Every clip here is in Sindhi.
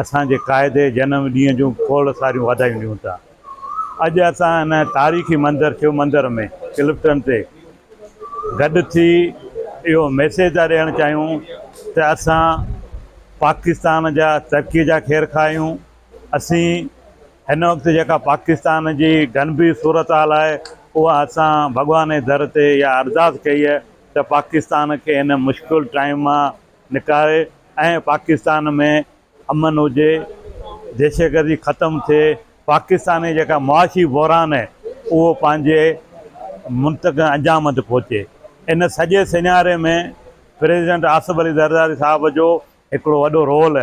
اسان جي قائد جنم ڏينهن جون کوڙ ساريون واڌايون ڏيون ٿا. اڄ اسان هن تاريخي منظر شو مندر ۾ ڪلفٽن تي گڏ ٿي اهو ميسيج ٿا ڏيڻ چاهيون ته اسان پاڪستان جا ترقي جا خير خواهه آهيون. اسين هن وقت جيڪا پاڪستان جي گنڀير صورتحال آهي اها اسان ڀڳوان جي در تي اها ارداس ڪئي ته پاڪستان کي هن مشڪل ٽائيم مان نڪاري ۽ پاڪستان ۾ امن هجي، دهشتگردي ختم ٿئي، پاڪستان جي جيڪا معاشي بحران آهي اهو پنهنجي منطقي انجام تي پهچي. ان سڄي سيناري ۾ پريزيڊنٽ آصف علي زرداري صاحب جو هڪڙو وڏو رول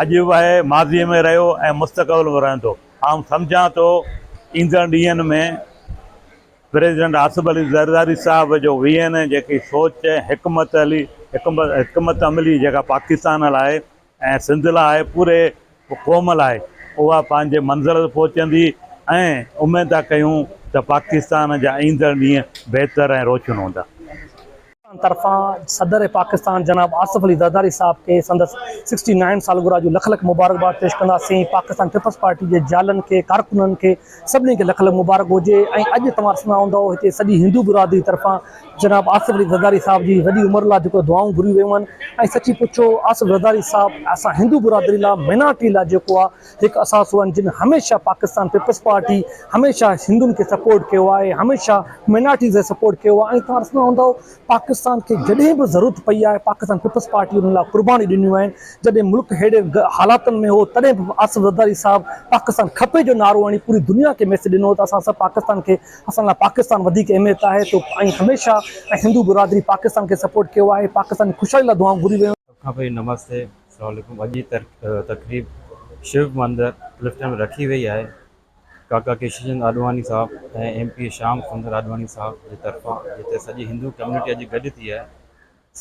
اڄ به آهي، ماضي ۾ رهيو ۽ مستقبل ۾ رهندو. آئون سمجهان ٿو ايندڙ ڏينهن ۾ پريزيڊنٽ آصف علي زرداري صاحب جو وي اين اي جيڪي سوچ ۽ حڪمت علي حڪمت عملي جيڪا پاڪستان لاء ۽ سنڌ لاء پوري قوم لاء اها پنهنجي منزل تي پهچندي ۽ اميد ٿا ڪيون ته پاڪستان جا ايندڙ ڏينهن بهتر ۽ روشن هوندا. پاڪستان طرفان صدر پاڪستان جناب آصف علي زرداري صاحب کي سندس سڪسٽي نائن سالگرهه جون لک لک مبارڪباد پيش ڪنداسين پاڪستان پيپلز پارٽي جي جيالن کي ڪارڪنن کي سڀني کي لک لک مبارڪ هجي ۽ اڄ توهان ڏسندا هوندؤ هتي سڄي هندو برادري طرفان جناب آصف علي زرداري صاحب جي وڏي عمر لا جيڪو دعائون گهريون ويون آهن ۽ سچي پڇو آصف زرداري صاحب اسان هندو برادري لا مينارٽي لا جيڪو آ هڪ اثاثو آهن جن هميشه پاڪستان پيپلز پارٽي هميشه هندن کي سپورٽ ڪيو آهي هميشه مائنارٽيز کي سپورٽ ڪيو آهي ۽ توهان ڏسندا هوندؤ پاڪستان کي جڏهن به ضرورت پئي آهي پاڪستان پيپلز پارٽي ان لاء قربانيون ڏنيون آهن جڏهن ملڪ اهڙي حالاتن ۾ هو تڏهن به آصف زرداري صاحب پاڪستان کپي جو نعرو هڻي پوري دنيا کي ميسج ڏنو ته اسان سڀ پاڪستان کي اسان لاء پاڪستان وڌيڪ اهميت آهي تو ۽ هميشه ۽ هندو برادري پاڪستان کي سپورٽ ڪيو آهي پاڪستان جي خوشحالي لاء دعائون گهريون ويون کان پهرين نمستي اسلام عليڪم اڄ جي تقريب شو مندر لفٽن ۾ رکي وئي آهي ڪاڪا ڪيشو چند آڏواڻي صاحب ۽ ايم پي شيام سندر آڏواڻي صاحب جي طرفان جتي سڄي هندو ڪميونٽي اڄ گڏ ٿي آهي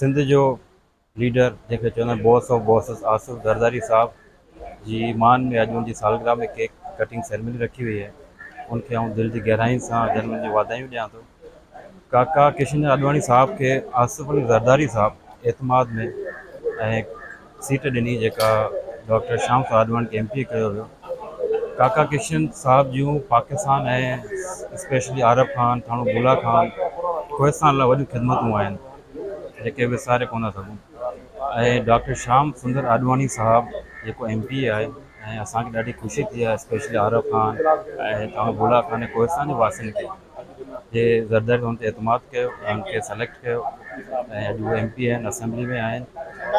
سنڌ جو ليڊر جنهن کي چوندا آهن boss of bosses Asif Zardari صاحب جي مان ۾ اڄ ان جي سالگرهه ۾ ڪيڪ ڪٽنگ سيرمني رکي وئي آهي ان کي آئون دل جي گهرائين سان جنم ڏينهن جون واڌايون ڏيان ٿو ڪاڪا ڪشن چند آڏواڻي صاحب کي آصف علي زرداري صاحب اعتماد ۾ ۽ سيٽ ڏني جيڪا ڊاڪٽر شيام صاحب آڏواڻي کي ايم پي اي ڪيو ويو ڪاڪا ڪشن صاحب جون پاڪستان ۽ اسپيشلي عارب خان ٿاڻو بولا خان کوهستان لاء وڏيون خدمتون آهن جيڪي وساري ڪونه سگهون ۽ ڊاڪٽر شيام سندر آڏواڻي صاحب جيڪو ايم پي آهي ۽ اسانکي ڏاڍي خوشي ٿي آهي اسپيشلي عارب خان ۽ ٿاڻو بولا خان ۽ کوهستان جي واسين کي جي زرداري هن تي اعتماد ڪيو ۽ هن کي سليڪٽ ڪيو ۽ اڄ هو ايم پي آهن اسيمبلي ۾ آهن.